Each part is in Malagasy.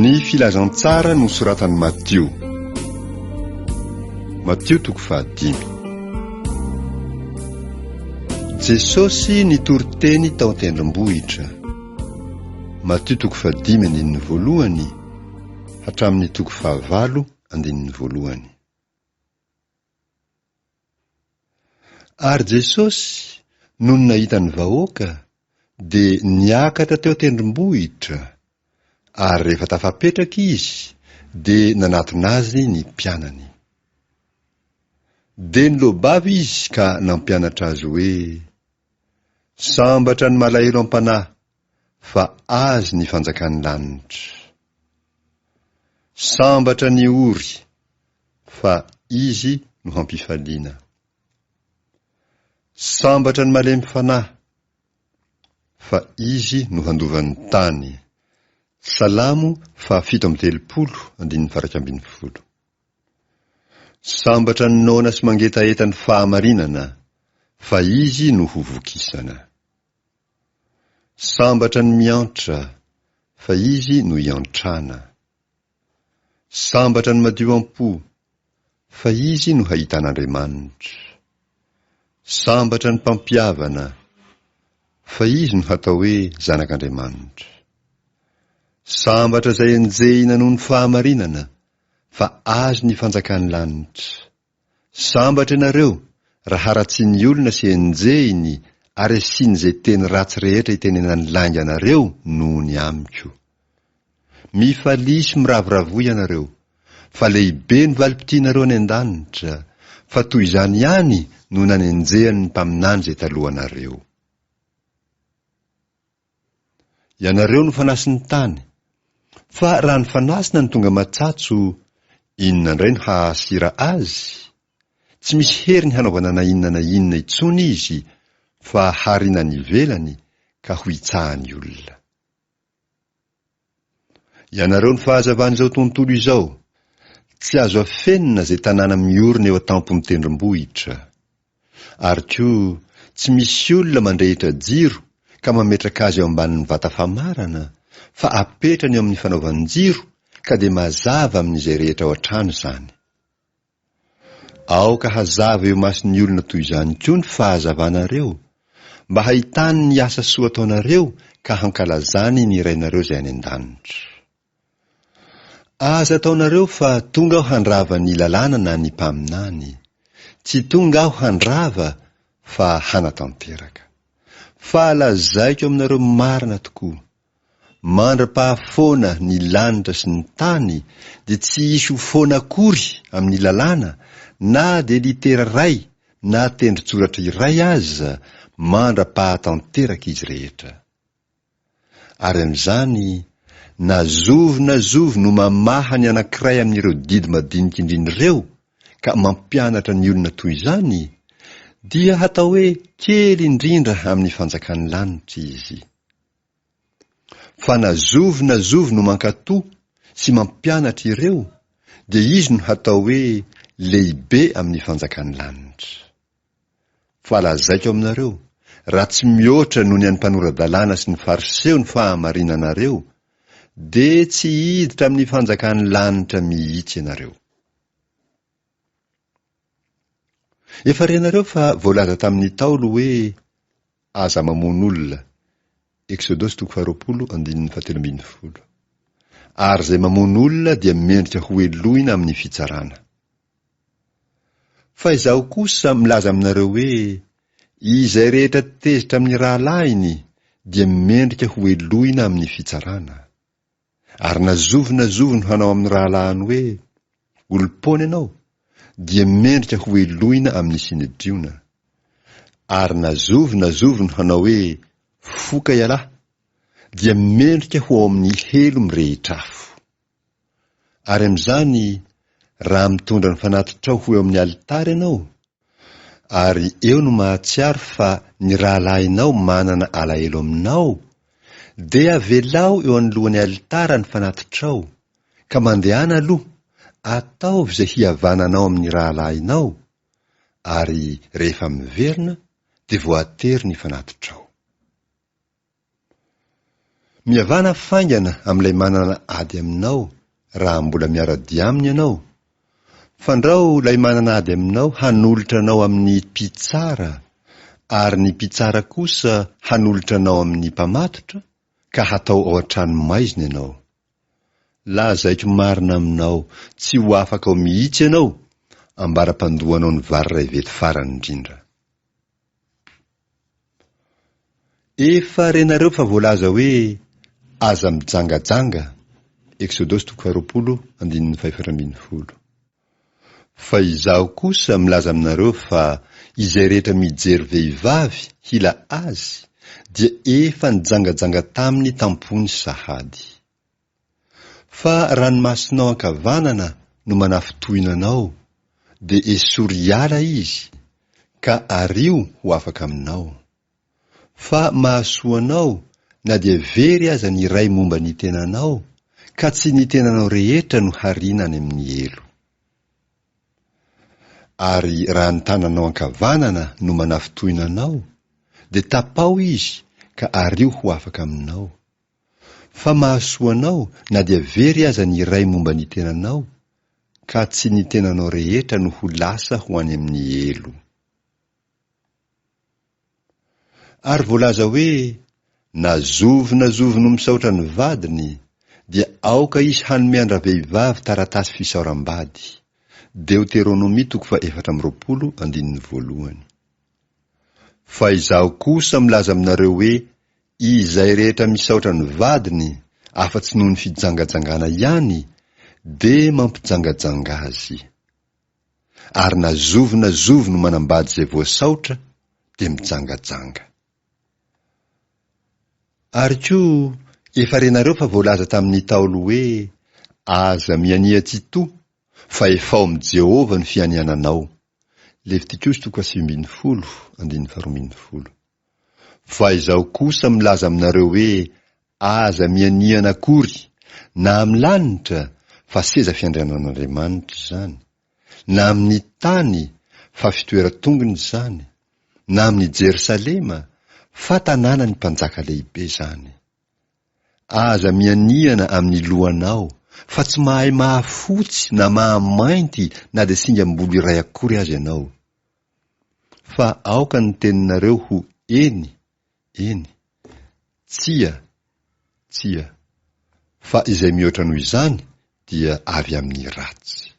Ny filazantsara nosoratan'i Matio. Matio toko fahadimy. Jesosy nitory teny tao an-tendrombohitra. Matio toko fahadimy andininy voalohany hatramin'ny toko fahavalo andininy voalohany. Ary Jesosy, nony nahita ny vahoaka, dia niakatra teo an-tendrombohitra, ary rehefa tafapetraka Izy, dia nanatona Azy ny mpianany. Dia nilobava Izy ka nampianatra azy hoe, Sambatra ny malahelo am-panahy, fa Azy ny fanjakan'ny lanitra. Sambatra ny ory, fa Izy no hampifaliana. Sambatra ny malemy fanahy, fa Izy no handova ny tany. Salamo fahafito amby telopolo, andininy faha-iraika ambin'ny folo. Sambatra ny noana sy mangetaheta ny fahamarinana, fa Izy no ho vokisana. Sambatra ny miantra, fa izy no iantrana. Sambatra ny madio am-po, fa izy no hahitan'Andriamanitra. Sambatra ny mpampihavana, fa izy no hatao hoe zanak'Andriamanitra. Sambatra izay enjehina noho ny fahamarinana, fa azy ny fanjakan'ny lanitra. Sambatra ianareo raha haratsian'ny olona sy enjehiny ary asian'izay teny ratsy rehetra itenenan'ny lainga anareo noho ny amiko. Mifalia sy miravoravoa ianareo, fa lehibe ny valim-pitianareo any an-danitra, fa toy izany ihany no nanenjehan'ny mpaminany izay talohanareo. Ianareo no fanasy ny tany. Fa raha ny fanasina no tonga matsatso, inona indray no hahasira azy? Tsy misy heriny hanaovana na inona na inona intsony izy fa harina any ivelany ka ho itsahan'ny olona. Ianareo ny fahazavan'izao tontolo izao. Tsy azo afenina izay tanàna miorina eo an-tampon'ny tendrombohitra. Ary koa tsy misy olona mandrehitra jiro ka mametraka azy eo ambanin'ny vata famarana fa apetrany eo amin'ny fanaovan-jiro ka dia mazava amin'izay rehetra ao an-trano izany. Aoka hazava eo imason'ny olona toy izany koa ny fahazavanareo, mba hahitany ny asa soa ataonareo ka hankalazany ny Rainareo izay any an-danitra. Aza ataonareo fa tonga aho handrava ny lalàna na ny mpaminany. Tsy tonga aho handrava fa hanatanteraka. Fa lazaiko aminareo marina tokoa, Mandra-pahafoana ny lanitra sy ny tany dia tsy hisy ho foana akory amin'ny lalàna na dia litera iray na tendrotsoratra iray aza mandra-pahatanteraka izy rehetra. Ary amin'izany, na zovy na zovy no mamaha ny anankiray amin'ireo didy madinika indrindra ireo ka mampianatra ny olona toy izany, dia hatao hoe kely indrindra amin'ny fanjakan'ny lanitra izy. Fa na zovy na zovy no mankato sy mampianatra ireo dia izy no hatao hoe lehibe amin'ny fanjakan'ny lanitra. Fa lazaiko aminareo, raha tsy mihoatra noho ny an'ny mpanora-dalàna sy ny Fariseo ny fahamarinanareo, dia tsy hiditra amin'ny fanjakan'ny lanitra mihitsy ianareo. Efa renareo fa voalaza tamin'ny Ntaolo hoe aza mamono olona, Eksodosy toko faharoapolo andininy fahatelo ambin'ny folo. Ary izay mamono olona dia mendrika ho helohina amin'ny fitsarana. Fa izaho kosa milaza aminareo hoe, izay rehetra tezitra amin'ny rahalahiny dia mendrika ho helohina amin'ny fitsarana. Ary na zovy na zovy no hanao amin'ny rahalahiny hoe, Olom-poana ianao, dia mendrika hohelohina amin'ny sinedriona. Ary na zovy na zovy no hanao hoe, Foka ialahy, dia mendrika ho ao amin'ny helo mirehitra afo. Ary amin'izany, raha mitondra ny fanatitrao ho eo amin'ny alitara ianao, Ary eo no mahatsiaro fa ny rahalahinao manana alahelo aminao? Dia avelao eo anoloan'ny alitara ny fanatitrao, ka mandehana aloha, ataovy izay hihavananao amin'ny rahalahinao, ary rehefa miverina, dia voatery ny fanatitrao. Mihavana faingana amin'ilay manana ady aminao raha mbola miara-dia aminy ianao. Fandrao ilay manana ady aminao hanolotra anao amin'ny mpitsara ary ny mpitsara kosa hanolotra anao amin'ny mpamatotra ka hatao ao an-tranomaizina ianao. Lazaiko marina aminao, tsy ho afaka ao mihitsy ianao, ambara-pandohanao ny vary iray vety farany indrindra. Efa renareo fa voalaza hoe aza mijangajanga, Exodosy toko faharoapolo andininy fahefatra ambin'ny folo. Fa izaho kosa milaza aminareo fa izay rehetra mijery vehivavy hila azy dia efa nijangajanga taminy tam-pony sahady. Fa raha ny masonao ankavanana no manafintohina anao, dia esory hiala izy, ka ario ho afaka aminao. Fa mahasoa anao na dia very aza ny iray momba ny tenanao, ka tsy ny tenanao rehetra no hariana any amin'ny helo. Ary raha ny tananao ankavanana no manafintohina anao, dia tapaho izy ka ario ho afaka aminao. Fa mahasoa anao na dia very aza ny iray momba ny tenanao, ka tsy ny tenanao rehetra no ho lasa ho any amin'ny helo. Ary voalaza hoe, Na zovy na zovy no misaotra ny vadiny, dia aoka izy hanome an-dravehivavy taratasy fisaoram-bady. Deoteronomia toko faha-efatra amby roapolo, andininy voalohany. Fa Izaho kosa milaza aminareo hoe, Izay rehetra misaotra ny vadiny afa-tsy noho ny fijangajangana ihany dia mampijangajanga azy. Ary na zovy na zovy no manambady izay voasaotra dia mijangajanga. Ary koa efa renareo fa voalaza tamin'ny Ntaolo hoe, Aza miania tsitoha, fa efao amin'i Jehovah ny fianiananao. Levitikosy toko fahasivy ambin'ny folo, andininy faharoa ambin'ny folo. Fa izaho kosa milaza aminareo hoe aza mihanihana akory, na amin'ny lanitra, fa seza fiandrianan'Andriamanitra izany, na amin'ny tany, fa fitoeran-tongony izany, na amin'i Jerosalema, fa tanànan'ny mpanjaka lehibe izany. Aza mihanihana amin'ny lohanao, fa tsy mahay mahafotsy na mahamainty na dia singam-bolo iray akory aza ianao. Fa aoka ny teninareo ho Eny, eny. Tsia, tsia. Fa izay mihoatra noho izany dia avy amin'ny ratsy.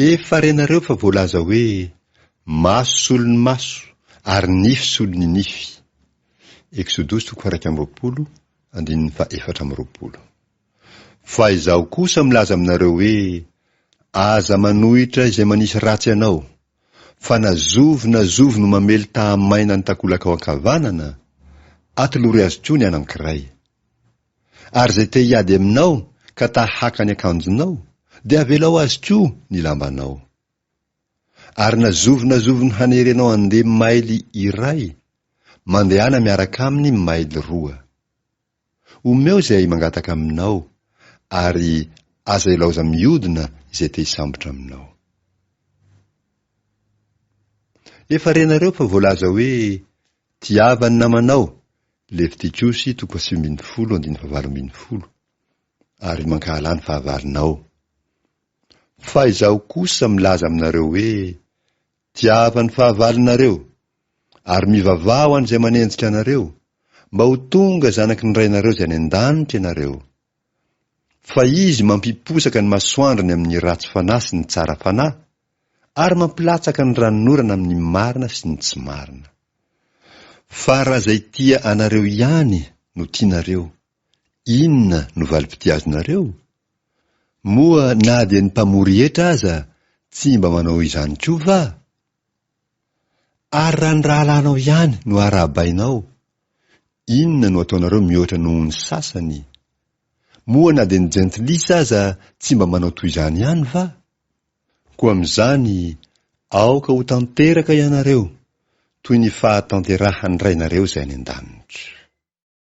Efa renareo fa voalaza hoe, Maso solo ny maso, ary nify solo ny nify. Eksodosy toko faha-iraika amby roapolo, andininy faha-efatra amby roapolo. Fa Izaho kosa milaza aminareo hoe, Aza manohitra izay manisy ratsy anao, fa na zovy na zovy no mamely taha-maina ny takolakao ankavanana, atolory azy koa ny anankiray. Ary izay te hiady aminao ka ta-haka ny akanjonao, dia avelao azy koa ny lambanao. Ary na zovy na zovy no hanery anao handeha maily iray, mandehana miaraka aminy maily roa. Omeo izay mangataka Aminao, ary aza ilaoza miodina izay te hisambotra Aminao. Efa renareo fa voalaza hoe, Tiava ny namanao, Levitikosy toko fahasivy ambin'ny folo andininy fahavalo ambin'ny folo, ary mankahala ny fahavalonao. Fa Izaho kosa milaza aminareo hoe, Tiava ny fahavalonareo, ary mivavaha ho an'izay manenjika anareo, mba ho tonga zanaky ny Rainareo izay any an-danitra ianareo. Fa Izy mampiposaka ny masoandrony amin'ny ratsy fanahy sy ny tsara fanahy, ary mampilatsaka ny ranonorana amin'ny marina sy ny tsy marina. Fa raha izay tia anareo ihany no tianareo, Inona no valim-pitiazanareo? Moa na dia ny mpamory hetra aza tsy mba manao izany koa va? Ary raha ny rahalahinao ihany no arahabainao, inona no ataonareo mihoatra noho ny sasany? Moa na dia ny jentilisa aza tsy mba manao toy izany ihany va? Koa amin'izany, aoka ho tanteraka ianareo toy ny fahatanterahan'ny Rainareo izay any an-danitra.